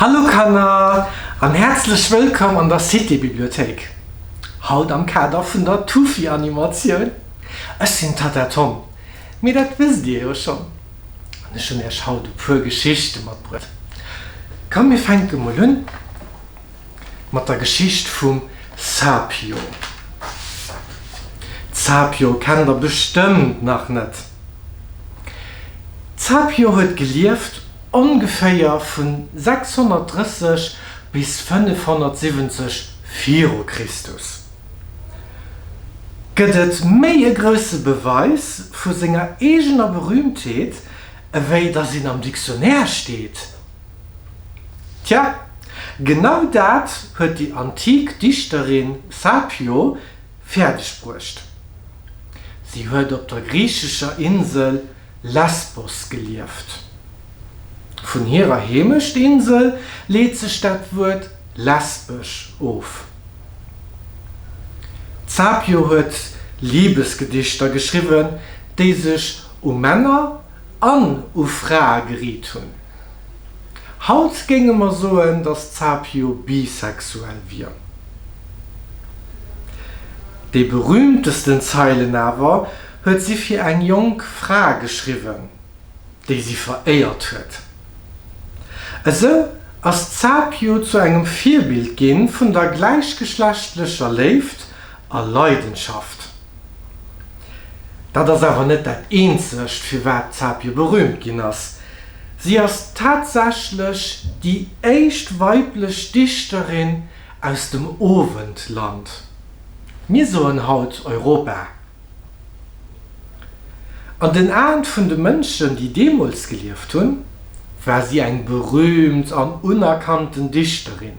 Hallo Kanner an häerzlech wëllkomm an der Cité-Bibliothéik. Haut am Kader vun der Tufi-Animatioun. Ech sinn d'Tatta Tom, mee dat wësst dir jo schonn. An ech hunn iech haut e puer Geschichte matbruecht. Komm mir fänke mol un. mat der Geschicht vum Sapio. D'Sapio kennt der bestëmmt nach net. D'Sapio huet gelieft ongeféier vu 630 bis 570 viru Christus. Gëtt et méi e grousse Beweis vu senger eegener Berühmtheet, ewéi datt een am Dictionnaire steet? Tja, genau dat huet déi antik Dichterin Sapio fäerdeg bruecht. Si huet op der griichescher Insel Lesbos gelieft. Vun hirer Heemecht-Insel leet sech dat Wuert lesbesch of. D'Sapio huet Libesgedichter geschriwwen, déi sech u Männer An u Frae geriit hunn. Haut géinge mer soen, datt d'Capio bisexuell wier. Déi berühmtesten Zeilen awer huet si fir eng jonk Fra geschriwwen, déi si veréiert huet. Esou ass d'Capio zu engem Virbild ginn vun der gläichgeschlechtlecher Léift a Leidenschaft. Dat ass awer net dat eenzegt, firwat d'Zapje berüümt ginn ass. Si ass tatsächlech déi éischt weiblech Dichterin aus dem Owendland. Mir soen haut Europa. An den Aen vun de Mënschen, déi deemools gelieft hunn, war si eng berüümt an unerkannten Dichterin.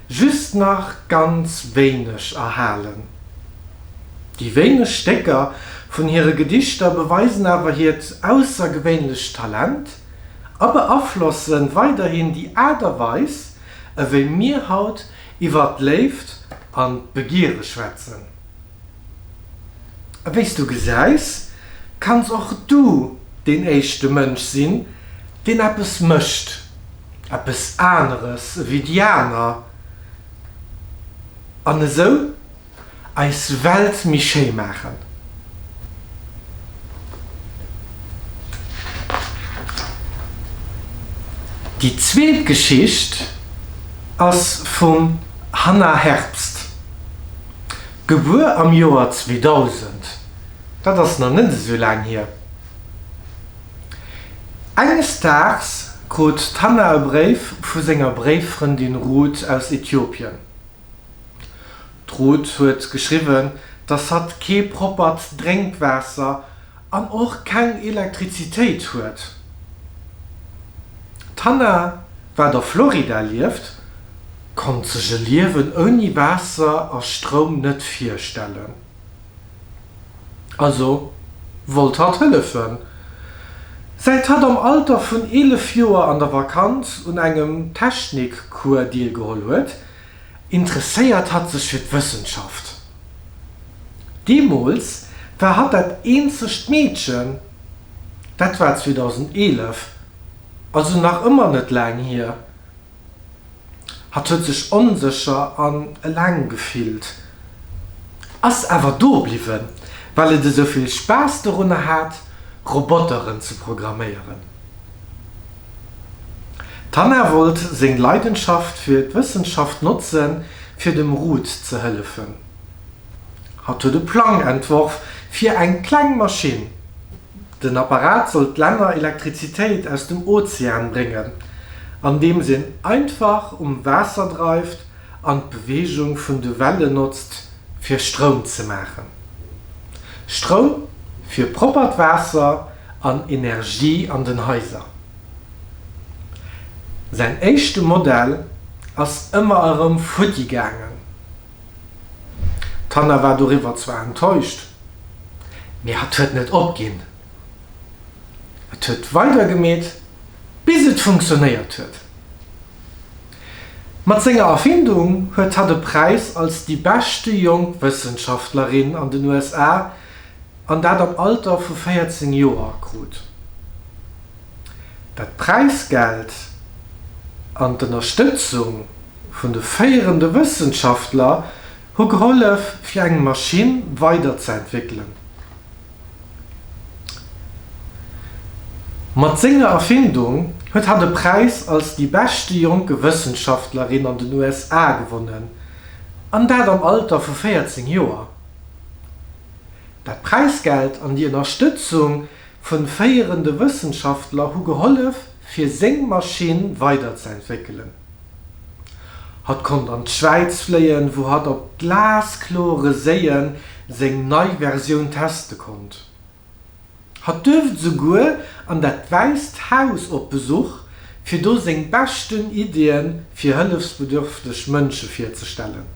just nach ganz wéineg erhalen. Déi wéineg Stécker vun hire Gedichter beweisen awer hiert aussergewéinlecht Talent a beaflosse weiderhin déi Aart a Weis, ewéi mir haut iwwer d'Léift an d'Begiere schwätzen. A wéi s du gesäis, kanns och du deen éischte Mënsch sinn, deen eppes mécht. eppes aneres ewéi déi aner an esou eis Welt méi schéi maachen. Déi zweet Geschicht ass vum Hannah Herbst, gebuer am Joer 2000, dat ass nach net esou laang hier. Enges Daags krut d'Hannah e Bréif vu senger Bréiffrëndin Ruth aus Ethiopien. D'Ruth huet geschriwwen, dass hatt kee proppert Drénkwaasser an och keng Elektrizitéit huet. D'Hannah, wat a Florida lieft, konnt sech e Liewen ouni Waasser a Stroum net virstellen. Also wollt hatt hëllefen. Säit hatt am Alter vun 11 Joer an der Vakanz un engem Technikcours deelgeholl huet, interesséiert hatt sech fir d'Wëssenschaft. Deemools war hatt dat eenzegt Meedchen, dat war 2011, also nach ëmmer net laang hier. Hatt huet sech onsécher an eleng gefillt, ass awer do bliwwen, well et esou vill Spaass dorunner hat, Roboteren ze programméieren. D'Hannah wollt seng Leidenschaft fir d'Wëssenschaft notzen, fir dem Ruth ze hëllefen. Hatt huet e Plang entworf fir eng kleng Maschinn, Den Apparat soll d'Länner Elektrizitéit aus dem Ozean bréngen, andeems een einfach um Waasser dreift an d'Beweegung vun de Wellen notzt, fir Stroum ze maachen. Stroum fir proppert Waasser an Energie an den Haiser. Säin éischte Modell ass ëmmer erëm futti gaangen. D'Hannah war doriwwer zwar enttäuscht, mee hat huet net opginn. Et huet weider gemeet, bis et funktionéiert huet. Mat senger Erfindung huet hatt e Präis als déi beschte jonk Wëssenschaftlerin an den USA, an dat am Alter vu 14 Joer, krut. Dat Präisgeld an d'Ënnerstëtzung, vun de féierende Wëssenschaftler hu gehollef, fir eng Maschinn weiderzeentwéckelen. Mat senger Erfindung huet hatt e Präis als déi beschte jonke Wëssenschaftlerin an den USA gewonnen, an dat am Alter vu 14 Joer. Dat Präisgeld an déi Ënnerstëtzung vu féierende Wëssenschaftler hu gehollef, fir seng Maschinn weiderzeentwéckelen. Hatt konnt an d'Schwäiz fléien, wou hatt op glasklore Séien seng nei Versioun teste konnt. Hatt duerft esouguer an dat Wäisst Haus op Besuch, fir do seng beschten Iddie fir hëllefsbedürfteg Mënsche virzestellen.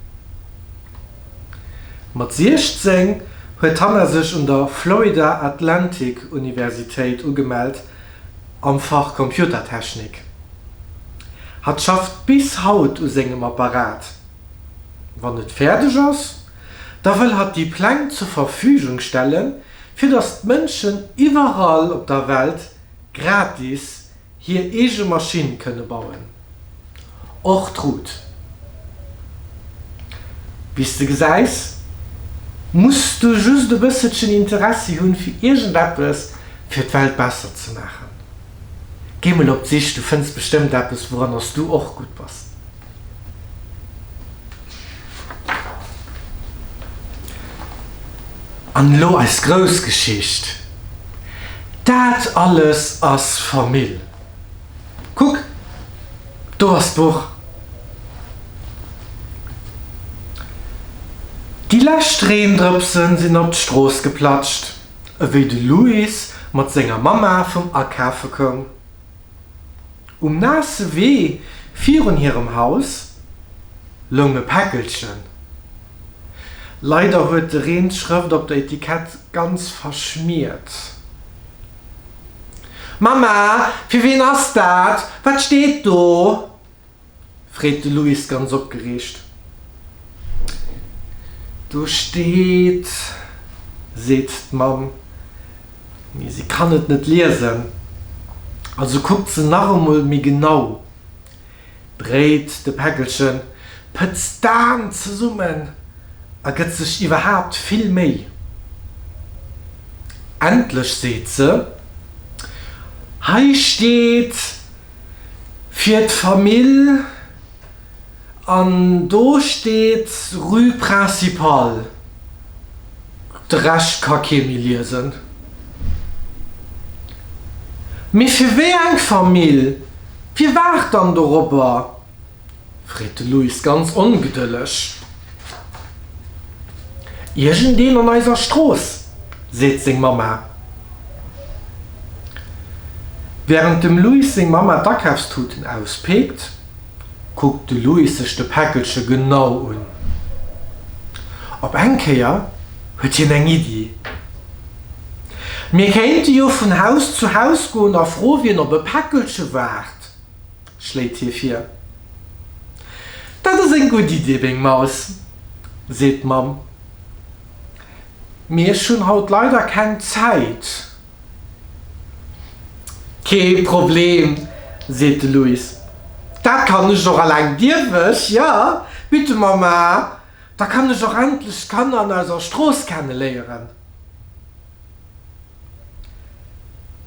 Mat 16 huet hannasech un der Florida Atlantic Universitéit ugemellt. am Fach Computertechnik. Hatt schafft bis haut u sengem Apparat. Wann et fäerdeg ass, da wëll hatt déi Pläng zur Verfügung stelle fir datt d'Mënschen iwwerall op der Welt gratis hir eege Maschinn kënne bauen. Och d'Route, wéi s de gesäis, muss du just e bësselchen Interessi hunn, fir iergendeppes fir d'Welt besser ze maachen. Géi mol op d'Sich, du fënns bestëmmt eppes, wouranner s du och gutt bass. An elo eis grouss Geschicht, dat alles ass Famill. Kuck, do ass d'Buch! Déi lescht Reendrëpse sinn op d'Strooss geplatscht, ewéi de Louis mat senger Mamma vum Akafe koum. Um naasse Wee virun hirem Haus loung e Päckelchen. Leider huet de Reen d'Schrëft op der Etikett ganz verschmiert. Mama, fir wien ass dat? Wat steet do? freet de Louis ganz opgereegt. Do steet, seet d'Mamm, mee si kann et net liesen, also kuckt se nach emol méi genau. Dréit de Päckelchen, pëtzt d'An zesummen a gëtt sech iwwerhaapt vill Méi. Endlech seet se, Hei steet fir d'Famill an do steet Rue Principale. De Rescht ka kee méi liesen. Mee fir wéi eng Famill? Wie waart dann doropper? freet de Luis ganz ongedëlleg. Iergendeen an eiser Strooss, seet seng Mamma. Wärend dem Luis seng Mamma d'Akafstuten auspeekt, kuckt de Luis sech de Päckelche genau un. Op eng Kéier huet hien eng Iddi. Mir kéinte jo vun Haus zu Haus goen a fro wien op e Päckelche waart, schléit hie vir. Dat ass eng gutt Iddi, meng Maus, seet d'Mamm. Mee ech hunn haut leider keng Zäit. Kee Problem, seet de Louis, dat kann ech och eleng. Dierf ech? Jo, bitte Mama. Da kann ech och endlech d'Kanner an eiser Strooss kenne léieren.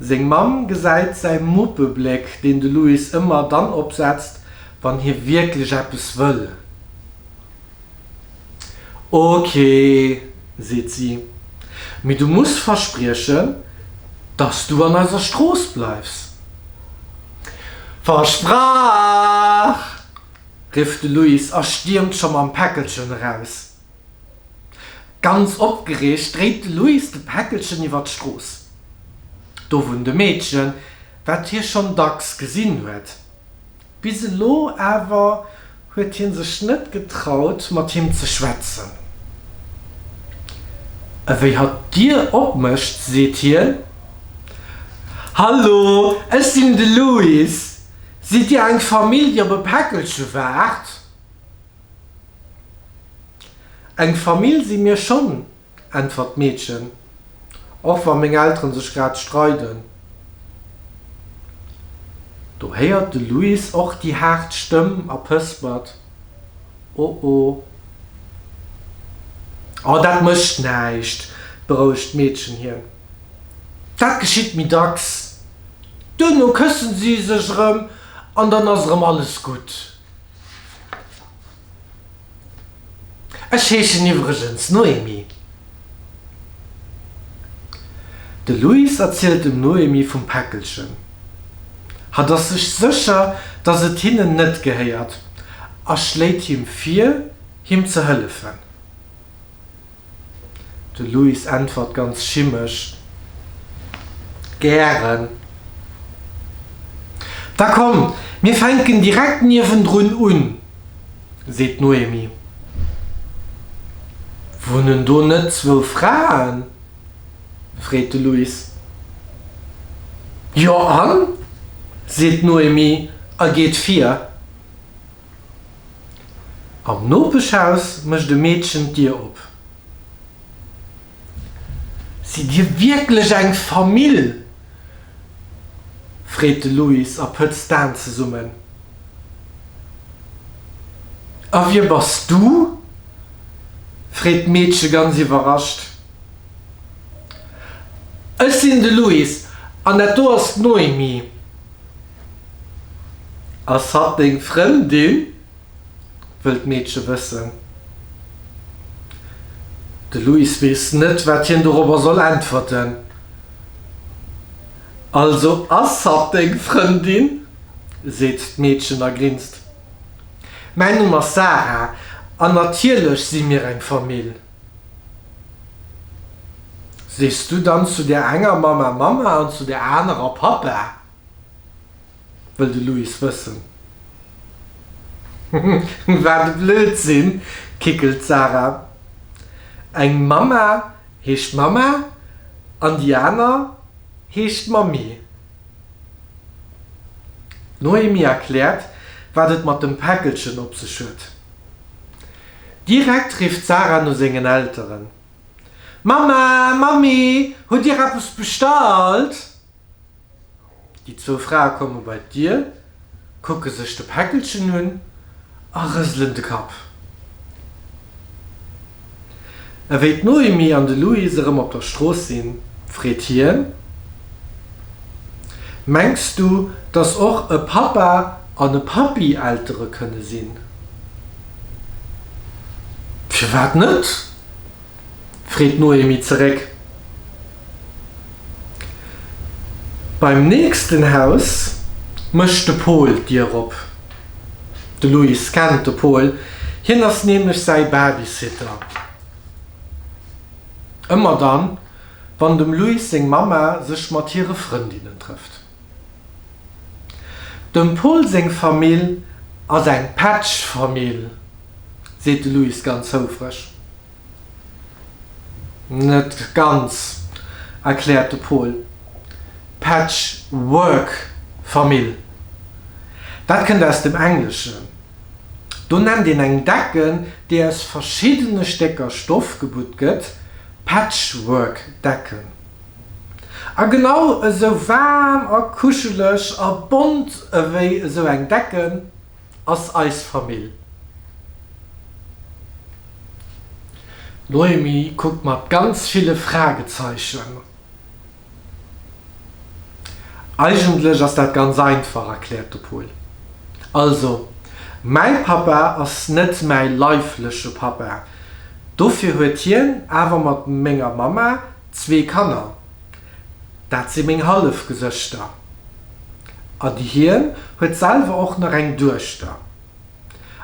Seng Mamm gesäit säi Muppebléck, deen de Louis ëmmer dann opsetzt, wann hie wierklech eppes wëll. Ok, seet si, mee du muss verspriechen, dass du an eiser Strooss bleifs. Versprach! rifft de Luis a stiermt scho mam Päckelchen eraus. Ganz opgereegt dréit de Luis de Päckelchen iwwer d'Strooss. Do wunnt e Meedchen, wat hie schonn dacks gesinn huet. Bis elo awer huet hie sech net getraut, mat him ze schwätzen. Ewéi hatt d'Dier opmécht, seet hien, Hallo, ech sinn de Luis! Sidd Dir eng Famill, déi op e Päckelche waart? Eng Famill si mir schonn, äntwert d'Meedchen, och wa meng Eltere sech grad streiden. Do héiert de Louis och déi haart Stëmm a pëspert, Oh oh. Oh, dat mécht näischt, berouegt d'Meedchen hien. Dat geschitt méi dacks, Duerno këssen si sech erëm an dann ass erëm alles gutt. Ech heeschen iwwregens Noémi. De Luis erzielt dem Noémi vum Päckelchen. Hatt ass sech sécher, dass et hinnen net gehéiert a schléit him vir, him ze hëllefen. De Luis äntwert ganz schimesch, Gären. Da komm, mir fänken direkt niewendrun un, seet d'Noémie. Wunnen do net zwou Fraen? freet de Luis. Jo, an? seet d'Noémie a geet vir. Am Nopeschhaus mécht e Meedchen d'Dier op. Sidd Dir wierklech eng Famill? freet de Louis a pëtzt d'Aen zesummen. A wie bass du? freet d'Meedche ganz iwwerrascht. Ech sinn de Louis an dat do ass d'Noémie. Ass hatt deng Frëndin? wëllt d'Meedche wëssen. De Luis weess net, wat hien dorobber soll äntwerten. Also ass hatt deng Frëndin, seet d'Meedchen a grinst. Mäin Numm ass Sara, an natierlech si mir eng Famill. Sees du dann zu där enger Mamma Mamma an zu där anerer Pappa? wëll de Louis wëssen. Wat e Blödsinn! kickelt d'Sarah. Eng Mamma heescht Mamma an déi aner heescht Mammi. D'Noémie erkläert, wat et mat dem Päckelchen op sech huet. Direkt rifft d'Sarah no sengen Elteren, Mamma, Mammi, hutt Dir eppes bestallt? Déi zwou Frae komme bei d'Dier, kucke sech de Päckelchen un a rëselen de Kapp. Ewéi d'Noémie an de Luis erëm op der Strooss sinn, freet hien, Mengs du, dass och e Pappa an e Pappi Eltere kënne sinn? Firwat net? freet d'Noémie zeréck. Beim nächsten Haus mécht de Pol d'Dier op. De Luis kennt de Pol, hien ass nämlech säi Babysitter. Ëmmer dann, wann dem Luis seng Mamma sech mat hire Frëndinnen trëfft. Dem Pol seng Famill ass eng Pätschfamill, seet de Luis ganz houfreg. Net ganz, erkläert de Pol. Patchwork-Famill, dat kënnt aus dem Engleschen. Do nennt een eng Decken, déi aus verschiddene Stécker Stoff gebutt gëtt, Patchwork-Decken. A genau esou waarm a kuscheleg a bont ewéi esou eng Decken. ass eis Famill. D'Noémie kuckt mat ganz ville Fragezeichen. Eigentlech ass dat ganz einfach, erkläert de Paul. Also, mäi Pappa ass net mäi leifleche Pappa, dofir huet hien awer mat menger Mamma Zwee Kanner, dat si meng Hallefgesëschter. An hien huet selwer och nach eng Duechter.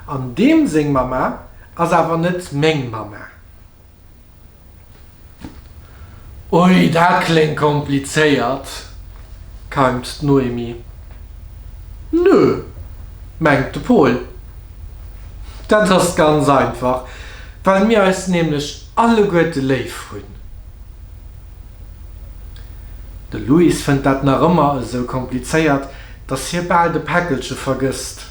An deem seng Mamma ass awer net meng Mamma. Ui, dat kléngt komplizéiert, keimt d'Noémie. Nö, mengt de Pol. Dat ass ganz einfach, well mir eis nämlech Alleguerte léif hunn. De Louis fënnt dat nach ëmmer esou komplizéiert, datt hie bal de Päckelche vergësst.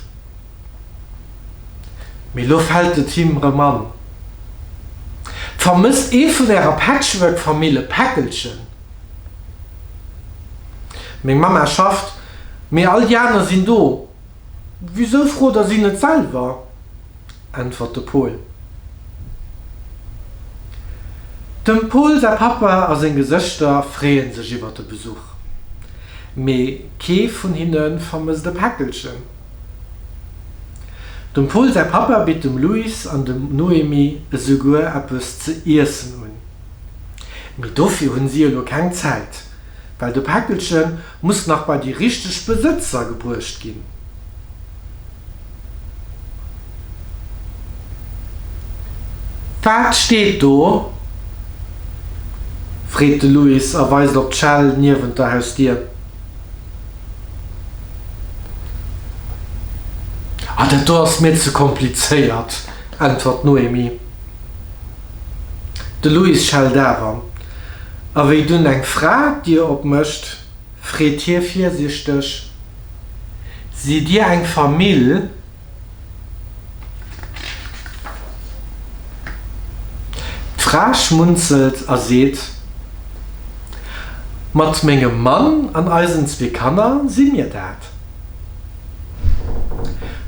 Mee lo fält et him rëm an. Vermësst ee vun Ärer Patchwork-Famill e Päckelchen? Meng Mamma schafft, mee all déi aner sinn do. Wisou frot Der si net selwer? äntwert de Pol. Dem Pol säi Pappa a seng Gesëschter freeën sech iwwert de Besuch, mee kee vun hinne vermësst e Päckelchen. Dem Pol säi Pappa bitt dem Luis an dem Noémie esouguer eppes ze iessen un. Mee dofir hunn si elo keng Zäit, well de Päckelchen Muss nach bei déi richteg Besëtzer gebruecht ginn. Wat steet do? freet de Louis a weist op d'Schell niewent der Hausdier. Ah, dat do ass mir ze komplizéiert, äntwert d'Noémie. De Louis schellt awer. A wéi dunn eng Fra d'Dier opmécht, freet hie virsichteg, Sidd Dir eng Famill? D'Fra schmunzelt a seet, Mat mengem Mann an eisen zwee Kanner si mir dat.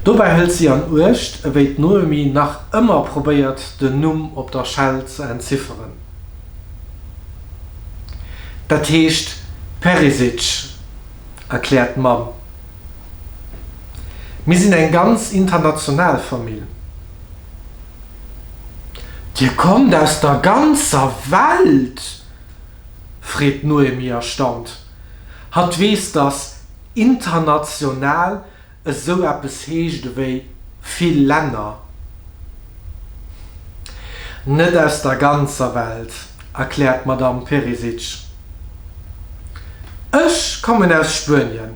Dobäi hëlt si an Uecht, ewéi d'Noémie nach ëmmer probéiert, den Numm op der Schell ze entzifferen. Dat heescht Perisic, erkläert d'Mamm. Mir sinn eng ganz international Famill. Dir kommt aus der ganzer Welt? freet d'Noémie erstaunt. Hatt weess, datt international Esou eppes heescht ewéi vill Länner, net aus der ganzer Welt, erkläert d'Madamm Perisic. Ech kommen aus Spuenien,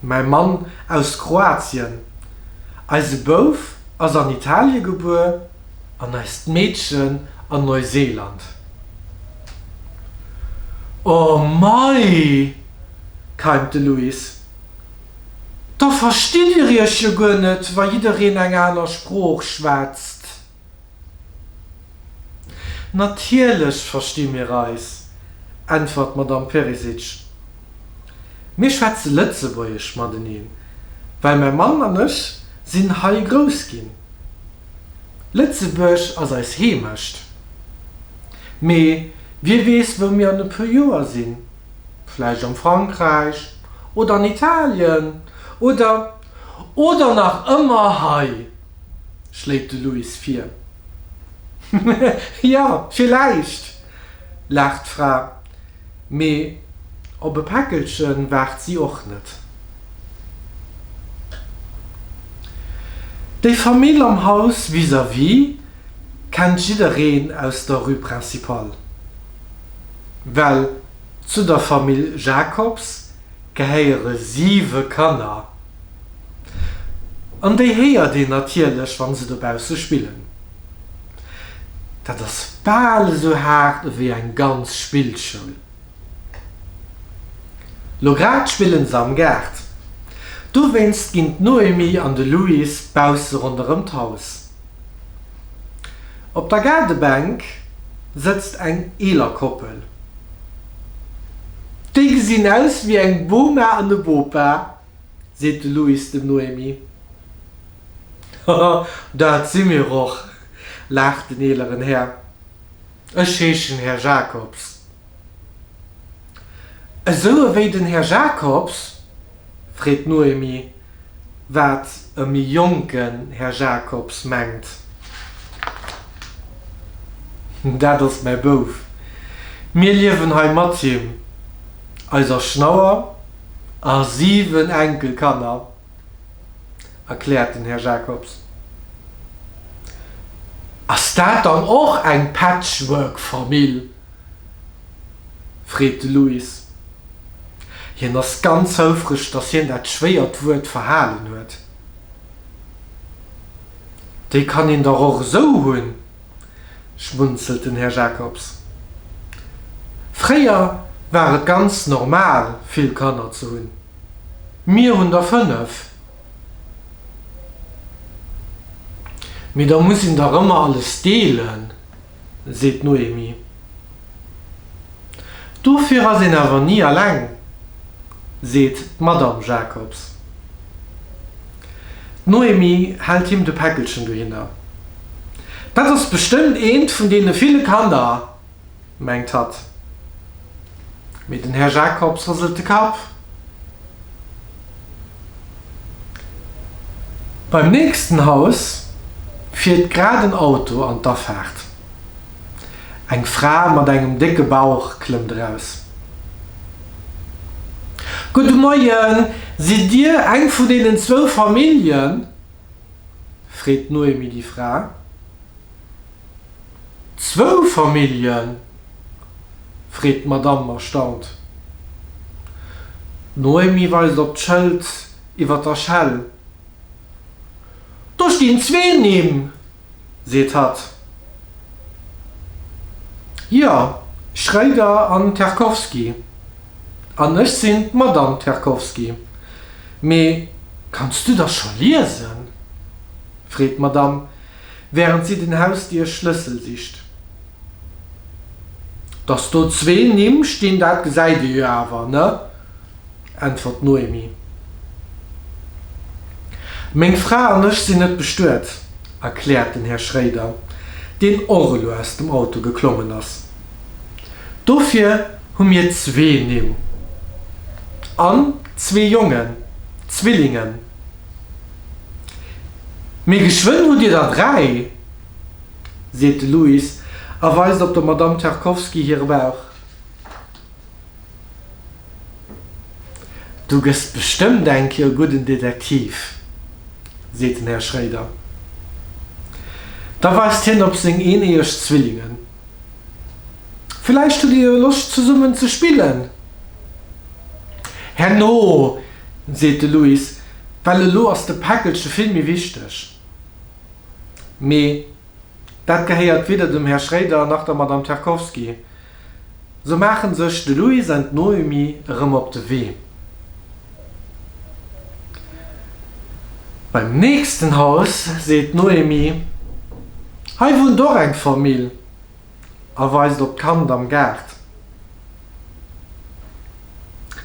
mäi Mann aus Kroatien, eise Bouf ass an Italie gebuer an eist Meedchen an Neuseeland. Oh mei! keimt de Luis. Da verstitt dir iech jo guer net, wa jiddereen eng aner Sprooch schwätzt. Natierlech versti mir eis, äntwert d'Madamm Perisic. Mir schwätze Lëtzebuergesch mateneen, well mäi Mann an ech sinn hei grouss ginn. Lëtzebuerg ass eis Heemecht. Mee wie weess, wou mir an e puer Joer sinn? vläicht am Frankräich oder an Italien oder oder nach ëmmer hei, schléit de Luis vir. Jo, villäicht, laacht d'Fra, mee op e Päckelche waart si och net. Déi Famill am Haus vis-à-vis. kennt jiddereen aus der Rue Principale, well zu der Famill Jacobs gehéiere siwe Kanner, an déi héiert een natierlech, wa se dobausse spillen. Dat ass bal esou haart ewéi eng ganz Spillschoul. Lo grad spille se am Gaart, dowéinst ginn d'Noémie an de Louis bausse ronderëm d'Haus. Op der Gaardebänk sëtzt eng eeler Koppel. Déi gesinn aus wéi eng Boma an e Bopa, seet de Louis dem Noémie. Haha, dat si mir och, laacht den eeleren Här. Ech heeschen Här Jacobs. Esou ewéi den Här Jacobs? freet d'Noémie, wat e méi jonken Här Jacobs mengt. Dat ass mäi Bouf. Mir liewen hei mat him, eiser Schnauer a siwen Enkelkanner. erkläert den Här Jacobs. Ass dat dann och eng Patchwork-Famill? freet de Louis. Hien ass ganz houfreg, datt hien dat schwéiert Wuert verhalen huet. Déi kann een dach och esou hunn. schmunzelt den Här Jacobs. Fréier war et ganz normal, vill Kanner ze hunn. Mir hunn der fënnef. Mee da muss een dach ëmmer alles deelen, seet d'Noémie. Dofir ass een awer ni alleng, seet d'Madamm Jacobs. D'Noémie hält him de Päckelchen dohinner. Dat ass bestëmmt eent vun deene ville Kanner, mengt hatt. Mee den Här Jacobs rëselt de Kapp. Beim nächsten Haus fiert grad en Auto an d'Afaart. Eng Fra mat engem décke Bauch klëmmt eraus. Gudde Moien, sidd Dir eng vun deenen zwou Familljen? freet d'Noémie déi Fra. Zwou Familljen? freet d'Madamm erstaunt. D'Noémie weist op d'Schëld iwwer der Schell, Do stinn zwee Nimm! seet hatt. Jo, Schroeder an Terkowski. An ech sinn d'Madame Terkowski. Mee kanns du da scho liesen? freet d'Madame, wärend si den Hausdierschlëssel sicht. Dass do zwee Nimm stinn, dat gesäit ee jo awer, ne? äntwert d'Noémie. Meng Fra an ech sinn net bestuet, erkläert den Här Schréider, deen och elo aus dem Auto geklommen ass. Dofir hu mir zwee Nimm. An zwee Jongen, Zwillingen. Mee geschwënn hutt Dir der dräi, seet de Louis a weist op der Madame Terkowski hire Bauch. Du gëss bestëmmt eng Kéier e gudden Detektiv, seet den Här Schréider. Da weist hien op seng eeneeëg Zwillingen. Villäicht hutt Dir jo Loscht zesummen ze spillen? Herno, seet de Louis, well elo ass de Päckelche vill méi wichteg. Mee dat gehéiert weder dem Här Schréider nach der Madame Terkowski. Sou maachen sech de Luis an d'Noémie erëm op de Wee. Beim nächsten Haus seet d'Noémie, Hei wunnt och eng Famill a weist op d'Kand am Gaart.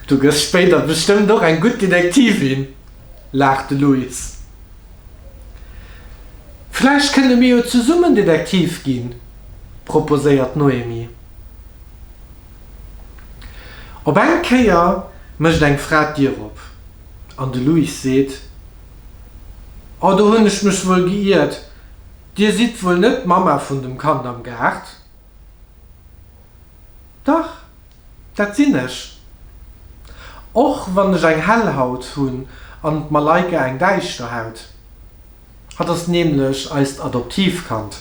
Du gëss spéider bestëmmt och eng gutt Detektivin. laacht de Luis. Vläicht kënne mir jo zesummen Detektiv ginn, proposéiert d'Noémie. Op eng Kéier mécht eng Fra d'Dier op an de Luis seet, Oh, do hunn ech mech wuel geiert, Dir sidd wuel net d'Mamma vun dem Kand am Gaart? Dach, dat sinn ech. Och wann ech eng hell Haut hunn an d'Malaika eng däischter Haut. Hatt ass nämlech eist Adoptivkand.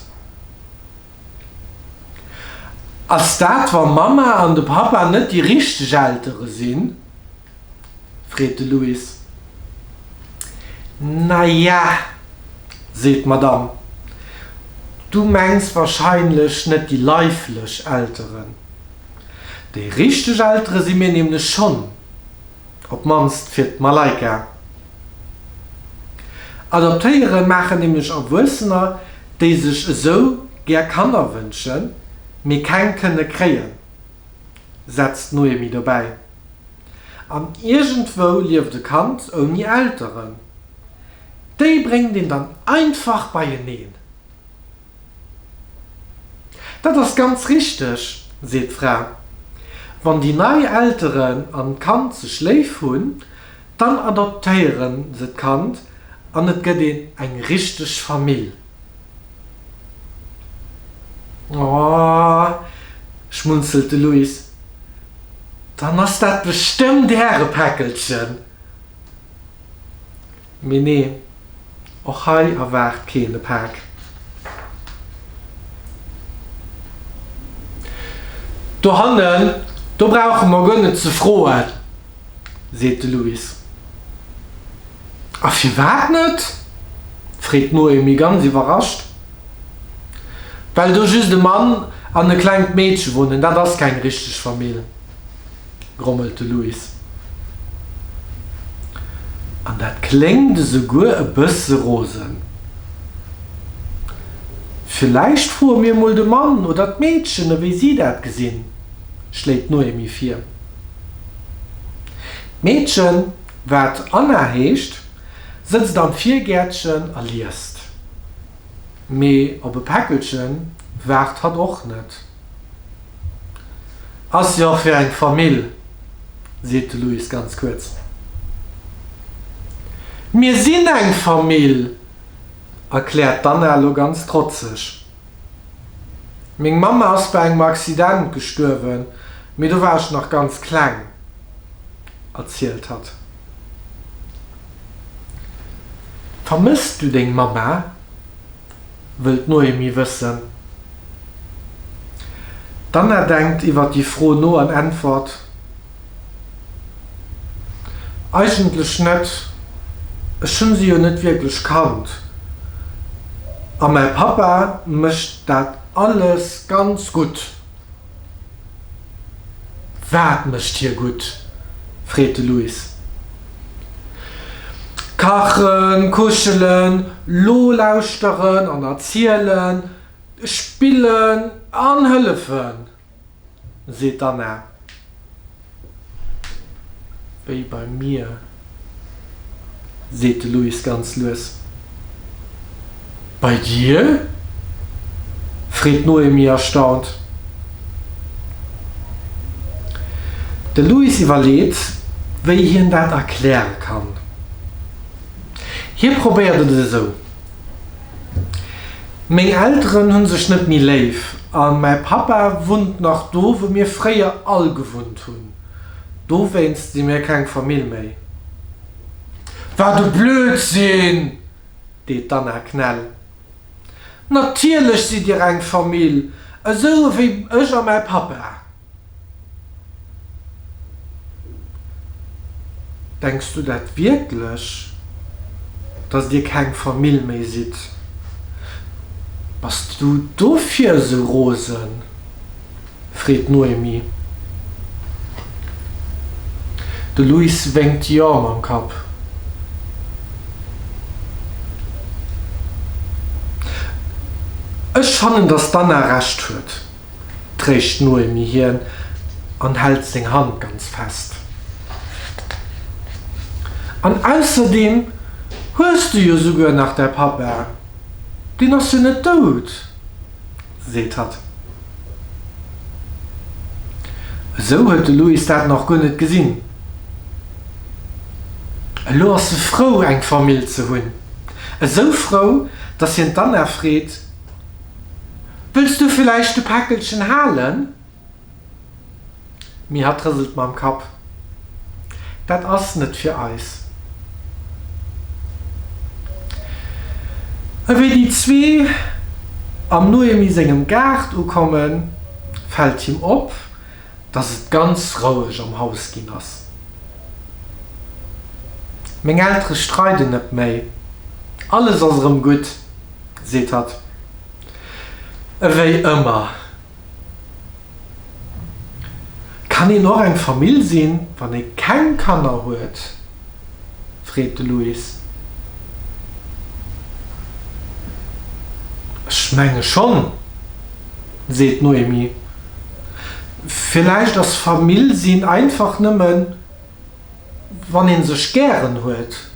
Ass dat, wa Mamma an de Pappa net déi richteg Eltere sinn? freet de Louis. Naja, seet d'Madame, du mengs warscheinlech net déi leiflech Elteren. Déi richteg Eltere si mir nämlech schonn, op d'mannst fir d'Malaika. Adoptéiere maachen nämlech Erwuessener, déi sech esou gär Kanner wënschen, mee keng kënne kréien. setzt d'Noémie dobäi. An iergendwou lieft e Kand ouni Elteren. Déi bréngt een dann einfach beieneen. Dat ass ganz richteg, seet d'Fra. Wann déi nei Elteren an d'Kand sech léif hunn, dann adoptéiere se d'Kand an et gëtt een eng richteg Famill. Oh, schmunzelt de Luis, dann ass dat bestëmmt äre Päckelchen. Mee nee, och hei erwaart keen e Pak. Dohannen, do brauche mer guer net ze froen, seet de Luis. A firwat net? freet d'Noémie ganz iwwerrascht. Well do just e Mann an e klengt Meedche wunnen, dat ass keng richteg Famill, grommelt de Louis. An dat kléngt esouguer e bësse rosen. Villäicht froe mir mol de Mann oder d'Meedchen, ewéi si dat gesinn, schléit d'Noémie vir. D'Meedchen, wat Anna heescht, Sëtzt am Virgäertchen a liest. Mee op e Päckelche waart hatt och net. Ass jo fir eng Famill, seet de Louis ganz kuerz. Mir sinn eng Famill, erkläert d'Anna lo ganz trotzeg. Meng Mamm ass bei engem Accident gestuerwen, mee do war ech nach ganz kleng, erzielt hatt. Vermëss du deng Mamma? wëll d'Noémie wëssen. D'Anna denkt iwwer déi Fro no an äntwert, Eigentlech net, ech hu se jo net wierklech kannt a mäi Pappa mécht dat alles ganz gutt. Wat mécht hie gutt? freet de Luis. Kachen, kuschelen, lo lauschteren an erzielen, spillen an hëllefen, seet d'Anna. Wéi beim Mier, seet de Louis ganz lues. Bei dir? freet d'Noémie erstaunt. De Louis iwwerleet, wéi hien dat erkläre kann. Hie probéiert et esou. Meng Elteren hunn sech net méi léif an mäi Pappa wunnt nach do wou mir fréier all gewunnt hunn. Dowéinst si mir keng Famill méi. Wat e Blödsinn! deet d'Anna Knell. Natierlech sidd dir eng Famill, esou ewéi ech a mäi Pappa. Denks du dat wierklech, dass dir keng Famill méi sidd? Bass du dofir esou rosen? freet d'Noémie. De Luis wénkt jo mam Kapp. Ech fannen, dass d'Anna Recht huet. tréischt d'Noémie hien an hält seng Hand ganz fest. An ausserdeem hues du jo souguer nach däi Pappa, deen ass jo net dout, seet hatt. Esou huet de Luis dat nach guer net gesinn. Elo ass e frou, eng Famill ze hunn, esou frou, datt hien d'Anna freet, Wëlls du villäicht de Päckelchen halen? D'Mihad rëselt mam Kapp. Dat ass net fir eis. Ewéi déi zwee am Noemi sengem Gaart ukommen, fält him op, dass et ganz roueg am Haus ginn ass. Meng Eltere streiden net méi. Alles ass erëm gutt. seet hatt ewéi ëmmer, Kann een och eng Famill sinn, wann ee keng Kanner huet? freet de Luis. Ech menge schonn, seet d'Noémie. Villäicht ass Famill sinn einfach nëmmen Wann ee sech gären huet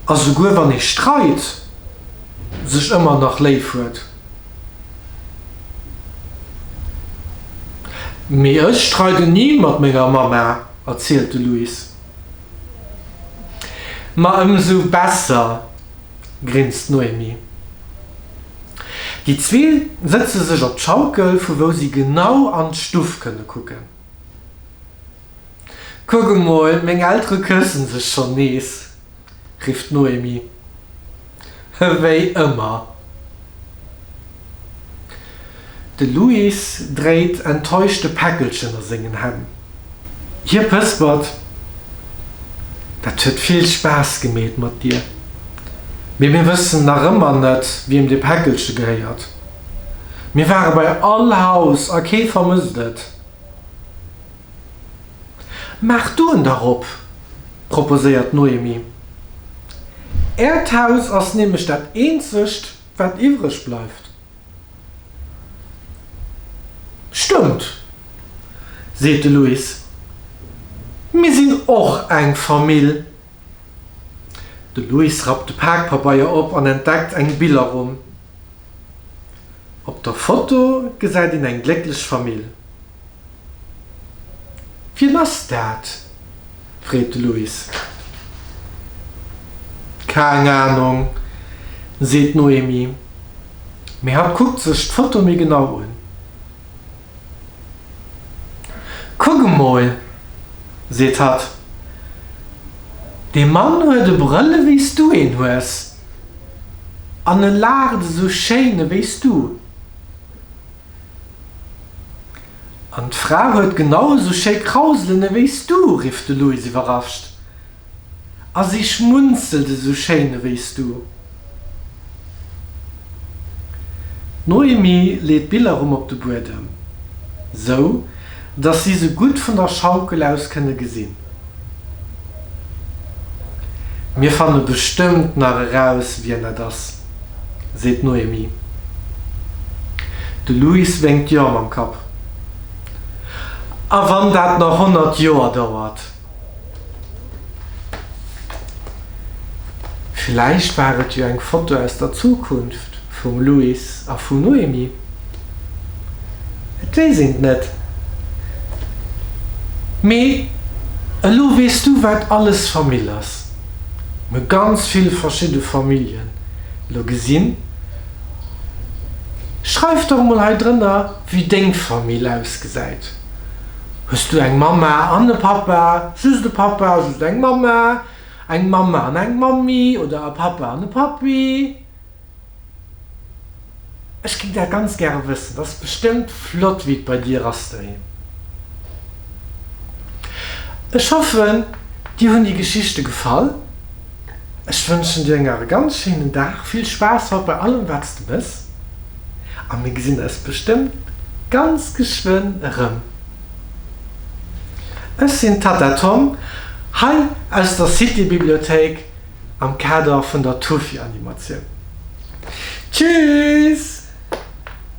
a souguer wann ee streit, sech ëmmer nach léif huet. Mee ech streiden ni mat menger Mamma, erzielt de Luis. Ma ëmsou besser, grinst d'Noémie. Déi zwee sëtze sech op d'Schaukel, vu wou si genau an d'Stuff kënne kucken. Kuck emol, meng Eltere këssen sech schonn nees, rifft d'Noémie. Ewéi ëmmer. De Louis dréit enttäuscht de Päckelchen a sengen Hänn. Hie pëspert, Dat huet vill Spaass gemeet mat dir, mee mir wëssen nach ëmmer net, wiem dee Päckelche gehéiert. Mir ware bei all Haus a kee vermësst et. Maach d'Oen derop, proposéiert d'Noémie. Äert Haus ass nämlech dat eenzegt, wat iwwreg bleift. Stëmmt, seet de Luis. Mir sinn och eng Famill. De Luis rappt de Pakpabeier op an entdeckt eng Billerrumm. Op der Foto gesäit een eng glécklech Famill. Wien ass dat? freet de Luis. Keng Anong, seet d'Noémie, mee hatt kuckt sech d'Foto méi genau un. Kuck emol, seet hatt, dee Mann huet e Brëll ewéi s du een hues, an e laacht esou schéin ewéi s du. An d'Fra huet genau esou schéi Krauselen ewéi s du, rifft de Louis iwwerrascht. A si schmunzelt esou schéin ewéi s du. D'Noémie leet d'Biller rëm op de Buedem, sou datt si se gutt vun der Schaukel aus kënne gesinn. Mir fanne bestëmmt nach eraus, wien dat ass, seet d'Noémie. De Louis wénkt jo mam Kapp. A wann dat nach honnert Joer dauert? Villäicht war et jo eng Foto aus der Zukunft vum Louis a vum Noémie? Et weess een et net. Mee elo weess du wat alles Famill ass. Mir ganz vill verschidde Familljen elo gesinn. Schreif dach mol hei drënner wéi deng Famill ausgesäit. Hues du eng Mamma an e Pappa, just e Pappa, just eng Mamma, eng Mamma an eng Mammi oder e Pappa an e Pappi? Ech ginn dat ganz gäre wëssen. Ass bestëmmt flott wéi et bei dir ass doheem. Ech hoffen dir hunn déi Geschichte gefall. Ech wënschen dir eng nach e ganz schéinen Dag. Vill Spaass haut bei allem wat s de mëss. a mir gesinn eis bestëmmt ganz geschwënn erëm. Ech sinn d'Tatta Tom, hei aus der City-Bibliothéik am Kader vun der Tufi-Animatioun. Tschüss!